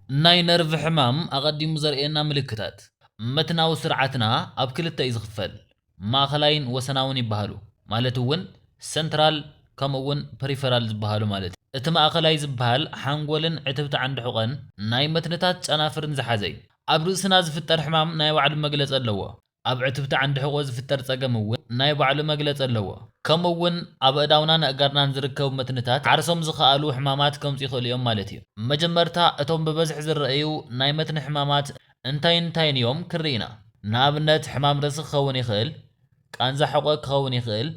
ናይ ነርቭ ሕማም ኣቐዲሙ ዘርእየና ምልክታት። መትናዊ ስርዓትና ኣብ ክልተ እዩ ዝኽፈል፣ ማእኸላይን ወሰናውን ይበሃሉ፣ ማለት እውን ሰንትራል ከምኡ እውን ፐሪፈራል ዝበሃሉ ማለት እዩ። እቲ ማእኸላይ ዝበሃል ሓንጎልን ዕትብቲ ዓንዲ ሑቐን፣ ናይ መትንታት ጨናፍርን ዝሓዘ እዩ። ኣብ ርእስና ዝፍጠር ሕማም ናይ ባዕሉ መግለፂ ኣለዎ። ኣብ ዕትብቲ ዓንዲ ሕቖ ዝፍጠር ጸገም እውን ናይ ባዕሉ መግለጺ ኣለዎ። ከምኡ እውን ኣብ ኣእዳውናን ኣእጋርናን ዝርከቡ መትንታት ዓርሶም ዝኸኣሉ ሕማማት ከምጹ ይኽእሉ እዮም ማለት እዩ። መጀመርታ እቶም ብበዝሒ ዝረኣዩ ናይ መትኒ ሕማማት እንታይን እንታይን እዮም ክንርኢ ኢና። ንኣብነት ሕማም ርእሲ ክኸውን ይኽእል፣ ቃንዛ ሕቖ ክኸውን ይኽእል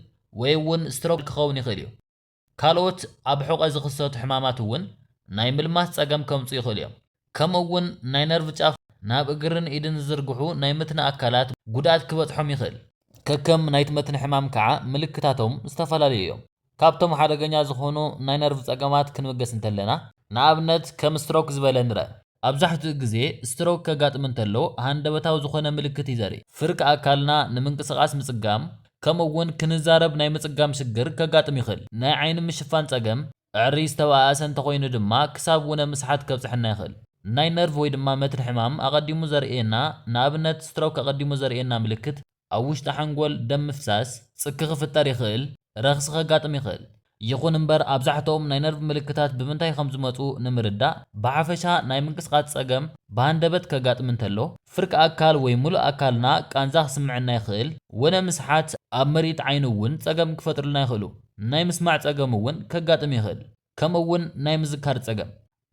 ወይ እውን ስትሮክ ክኸውን ይኽእል እዩ። ካልኦት ኣብ ሑቘ ዝኽሰቱ ሕማማት እውን ናይ ምልማስ ጸገም ከምጽኡ ይኽእሉ እዮም። ከምኡ እውን ናይ ነርቭ ጫፍ ናብ እግርን ኢድን ዝዝርግሑ ናይ መትኒ ኣካላት ጉድኣት ክበጽሖም ይኽእል። ከከም ናይቲ መትኒ ሕማም ከዓ ምልክታቶም ዝተፈላለዩ እዮም። ካብቶም ሓደገኛ ዝኾኑ ናይ ነርቭ ጸገማት ክንብገስ እንተለና ንኣብነት ከም ስትሮክ ዝበለ ንረእ። ኣብዛሕትኡ ግዜ ስትሮክ ከጋጥም እንተሎ ሃንደበታዊ ዝኾነ ምልክት እዩ ዘርኢ። ፍርቂ ኣካልና ንምንቅስቓስ ምጽጋም ከምኡ እውን ክንዛረብ ናይ ምጽጋም ሽግር ከጋጥም ይኽእል። ናይ ዓይኒ ምሽፋን ጸገም ዕሪ ዝተበኣኣሰ እንተኾይኑ ድማ ክሳብ ውነ ምስሓት ከብጽሐና ይኽእል። ናይ ነርቭ ወይ ድማ መትኒ ሕማም ኣቐዲሙ ዘርእየና ንኣብነት ስትሮክ ኣቐዲሙ ዘርእየና ምልክት ኣብ ውሽጢ ሓንጎል ደም ምፍሳስ፣ ጽኪ ክፍጠር ይኽእል፣ ረኽሲ ከጋጥም ይኽእል። ይኹን እምበር ኣብዛሕትኦም ናይ ነርቭ ምልክታት ብምንታይ ከም ዝመጹ ንምርዳእ፣ ብሓፈሻ ናይ ምንቅስቓስ ጸገም ብሃንደበት ከጋጥም እንተሎ፣ ፍርቂ ኣካል ወይ ምሉእ ኣካልና ቃንዛ ክስምዐና ይኽእል፣ ወነ ምስሓት፣ ኣብ ምርኢት ዓይኒ እውን ጸገም ክፈጥሩልና ይኽእሉ፣ ናይ ምስማዕ ጸገም እውን ከጋጥም ይኽእል። ከምኡ እውን ናይ ምዝካር ፀገም።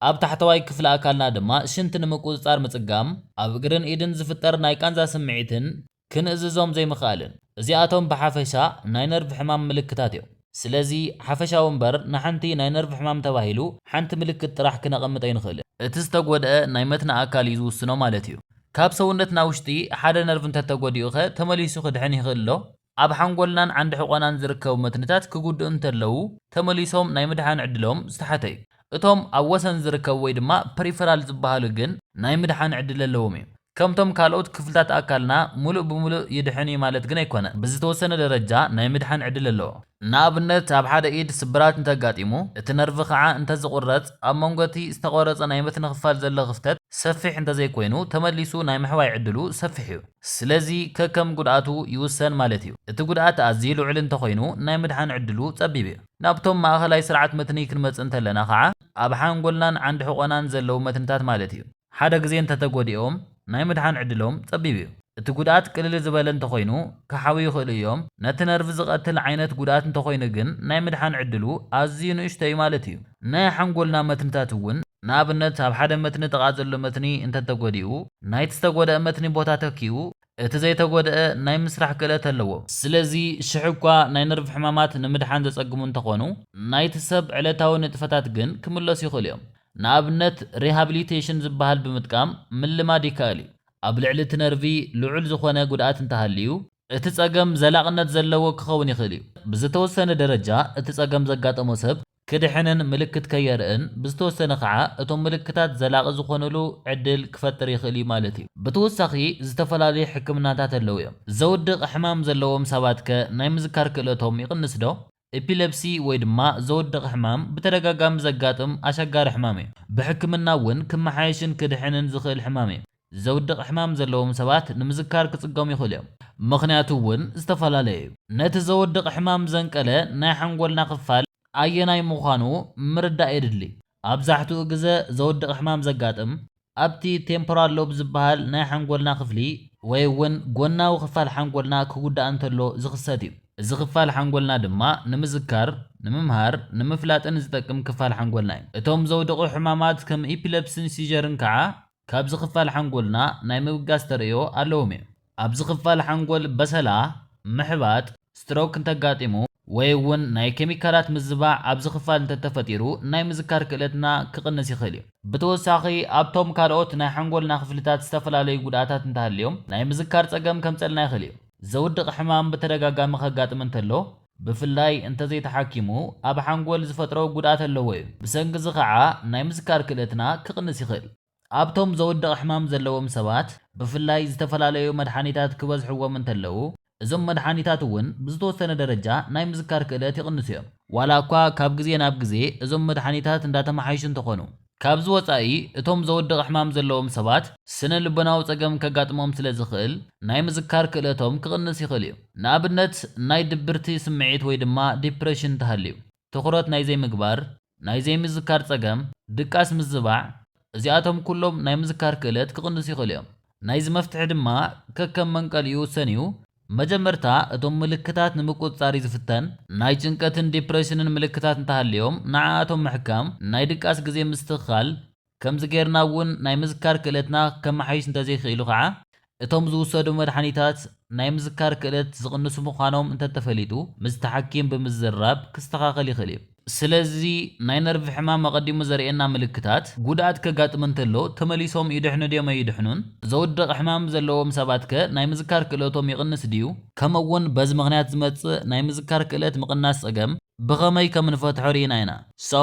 ኣብ ታሕተዋይ ክፍሊ ኣካልና ድማ ሽንቲ ንምቁፅፃር ምፅጋም፣ ኣብ እግርን ኢድን ዝፍጠር ናይ ቃንዛ ስምዒትን ክንእዝዞም ዘይምኽኣልን። እዚኣቶም ብሓፈሻ ናይ ነርቭ ሕማም ምልክታት እዮም። ስለዚ ሓፈሻዊ እምበር ንሓንቲ ናይ ነርቭ ሕማም ተባሂሉ ሓንቲ ምልክት ጥራሕ ክነቐምጥ ኣይንኽእልን። እቲ ዝተጎድኣ ናይ መትኒ ኣካል እዩ ዝውስኖ ማለት እዩ። ካብ ሰውነትና ውሽጢ ሓደ ነርቭ እንተተጎዲኡኸ ተመሊሱ ክድሕን ይኽእል ዶ? ኣብ ሓንጎልናን ዓንዲ ሕቖናን ዝርከቡ መትንታት ክጉድኡ እንተለዉ ተመሊሶም ናይ ምድሓን ዕድሎም ዝተሓተ እዩ። እቶም ኣብ ወሰን ዝርከቡ ወይ ድማ ፐሪፈራል ዝበሃሉ ግን ናይ ምድሓን ዕድል ኣለዎም እዩ። ከምቶም ካልኦት ክፍልታት ኣካልና ምሉእ ብምሉእ ይድሕን እዩ ማለት ግን ኣይኮነን። ብዝተወሰነ ደረጃ ናይ ምድሓን ዕድል ኣለዎ። ንኣብነት ኣብ ሓደ ኢድ ስብራት እንተኣጋጢሙ፣ እቲ ነርቭ ከዓ እንተዝቑረፅ፣ ኣብ መንጎ እቲ ዝተቖረፀ ናይ መትኒ ክፋል ዘሎ ክፍተት ሰፊሕ እንተዘይኮይኑ ተመሊሱ ናይ ምሕዋይ ዕድሉ ሰፊሕ እዩ። ስለዚ ከከም ጉድኣቱ ይውሰን ማለት እዩ። እቲ ጉድኣት ኣዝዩ ልዑል እንተኾይኑ ናይ ምድሓን ዕድሉ ጸቢብ እዩ። ናብቶም ማእኸላይ ስርዓት መትኒ ክንመጽእ እንተለና ከዓ ኣብ ሓንጎልናን ዓንዲ ሕቖናን ዘለዉ መትንታት ማለት እዩ። ሓደ ግዜ እንተተጎዲኦም ናይ ምድሓን ዕድሎም ጸቢብ እዩ። እቲ ጉድኣት ቅልል ዝበለ እንተኾይኑ ክሓውዩ ይኽእሉ እዮም። ነቲ ነርቭ ዝቐትል ዓይነት ጉድኣት እንተኾይኑ ግን ናይ ምድሓን ዕድሉ ኣዝዩ ንእሽቶ እዩ ማለት እዩ። ናይ ሓንጎልና መትንታት እውን ንኣብነት ኣብ ሓደ መትኒ ጥቓ ዘሎ መትኒ እንተተጎዲኡ፣ ናይቲ ዝተጎድኣ መትኒ ቦታ ተኪኡ፣ እቲ ዘይተጎድኣ ናይ ምስራሕ ክእለት ኣለዎ። ስለዚ ሽሕ'ኳ ናይ ነርቭ ሕማማት ንምድሓን ዘጸግሙ እንተኾኑ፣ ናይቲ ሰብ ዕለታዊ ንጥፈታት ግን ክምለሱ ይኽእሉ እዮም። ንኣብነት ሪሃብሊቴሽን ዝበሃል ብምጥቃም ምልማድ ይከኣል እዩ። ኣብ ልዕሊ እቲ ነርቪ ልዑል ዝኾነ ጉድኣት እንተሃልዩ፣ እቲ ጸገም ዘላቕነት ዘለዎ ክኸውን ይኽእል እዩ። ብዝተወሰነ ደረጃ እቲ ጸገም ዘጋጠሞ ሰብ ክድሕንን ምልክት ከየርእን፣ ብዝተወሰነ ከኣ እቶም ምልክታት ዘላቒ ዝኾኑሉ ዕድል ክፈጥር ይኽእል እዩ ማለት እዩ። ብተወሳኺ ዝተፈላለዩ ሕክምናታት ኣለዉ እዮም። ዘውድቕ ሕማም ዘለዎም ሰባት ከ ናይ ምዝካር ክእለቶም ይቕንስ ዶ? ኤፒለፕሲ ወይ ድማ ዘወድቕ ሕማም ብተደጋጋሚ ዘጋጥም ኣሸጋሪ ሕማም እዩ። ብሕክምና እውን ክመሓየሽን ክድሕንን ዝኽእል ሕማም እዩ። ዘውድቕ ሕማም ዘለዎም ሰባት ንምዝካር ክጽገሙ ይኽእሉ እዮም። ምኽንያቱ እውን ዝተፈላለየ እዩ። ነቲ ዘወድቕ ሕማም ዘንቀለ ናይ ሓንጎልና ክፋል ኣየናይ ምዃኑ ምርዳእ የድሊ። ኣብዛሕትኡ ግዘ ዘውድቕ ሕማም ዘጋጥም ኣብቲ ቴምፖራል ሎብ ዝበሃል ናይ ሓንጎልና ክፍሊ ወይ እውን ጎናዊ ክፋል ሓንጎልና ክጉዳእ እንተሎ ዝኽሰት እዩ። እዚ ክፋል ሓንጎልና ድማ ንምዝካር፣ ንምምሃር፣ ንምፍላጥን ዝጠቅም ክፋል ሓንጎልና እዩ። እቶም ዘውድቑ ሕማማት ከም ኢፒለፕሲን ሲዠርን ከዓ ካብዚ ክፋል ሓንጎልና ናይ ምብጋስ ተርእዮ ኣለዎም እዮም። ኣብዚ ክፋል ሓንጎል በሰላ፣ ምሕባጥ፣ ስትሮክ፣ እንተጋጢሙ፣ ወይ እውን ናይ ኬሚካላት ምዝባዕ ኣብዚ ክፋል እንተተፈጢሩ ናይ ምዝካር ክእለትና ክቕንስ ይኽእል እዩ። ብተወሳኺ ኣብቶም ካልኦት ናይ ሓንጎልና ክፍልታት ዝተፈላለዩ ጉድኣታት እንተሃልዮም ናይ ምዝካር ፀገም ከምፀልና ይኽእል እዩ። ዘውድቕ ሕማም ብተደጋጋሚ ከጋጥም እንተሎ ብፍላይ እንተዘይተሓኪሙ ኣብ ሓንጎል ዝፈጥሮ ጉድኣት ኣለዎ እዩ። ብሰንኪ እዚ ከዓ ናይ ምዝካር ክእለትና ክቕንስ ይኽእል። ኣብቶም ዘወድቕ ሕማም ዘለዎም ሰባት ብፍላይ ዝተፈላለዩ መድሓኒታት ክበዝሕዎም እንተለዉ፣ እዞም መድሓኒታት እውን ብዝተወሰነ ደረጃ ናይ ምዝካር ክእለት ይቕንሱ እዮም። ዋላ እኳ ካብ ግዜ ናብ ግዜ እዞም መድሓኒታት እንዳተመሓየሹ እንተኾኑ፣ ካብዚ ወጻኢ እቶም ዘወድቕ ሕማም ዘለዎም ሰባት ስነ ልቦናዊ ጸገም ከጋጥሞም ስለ ዝኽእል ናይ ምዝካር ክእለቶም ክቕንስ ይኽእል እዩ። ንኣብነት ናይ ድብርቲ ስምዒት ወይ ድማ ዲፕረሽን እንተሃልዩ። ትኹረት ናይ ዘይምግባር፣ ናይ ዘይምዝካር ጸገም፣ ድቃስ ምዝባዕ፣ እዚኣቶም ኩሎም ናይ ምዝካር ክእለት ክቕንሱ ይኽእሉ እዮም። ናይዚ መፍትሒ ድማ ከከም መንቀሊኡ ውሰን እዩ። መጀመርታ እቶም ምልክታት ንምቁጽጻር እዩ ዝፍተን። ናይ ጭንቀትን ዲፕረሽንን ምልክታት እንተሃልዮም ንዓኣቶም ምሕካም፣ ናይ ድቃስ ግዜ ምስትኽኻል፣ ከምዚ ጌርና እውን ናይ ምዝካር ክእለትና ከመሓይሽ እንተዘይክኢሉ ከዓ እቶም ዝውሰዱ መድሓኒታት ናይ ምዝካር ክእለት ዝቕንሱ ምዃኖም እንተተፈሊጡ ምስቲ ሓኪም ብምዝራብ ክስተኻኸል ይኽእል እዩ። ስለዚ ናይ ነርቭ ሕማም ኣቐዲሙ ዘርእየና ምልክታት፣ ጉድኣት ከጋጥም እንተሎ ተመሊሶም ይድሕኑ ድዮም ኣይድሕኑን? ዘውድቕ ሕማም ዘለዎም ሰባትከ ናይ ምዝካር ክእለቶም ይቕንስ ድዩ? ከምኡ እውን በዚ ምኽንያት ዝመፅእ ናይ ምዝካር ክእለት ምቕናስ ፀገም ብኸመይ ከምንፈትሖ ርኢና ኢና። So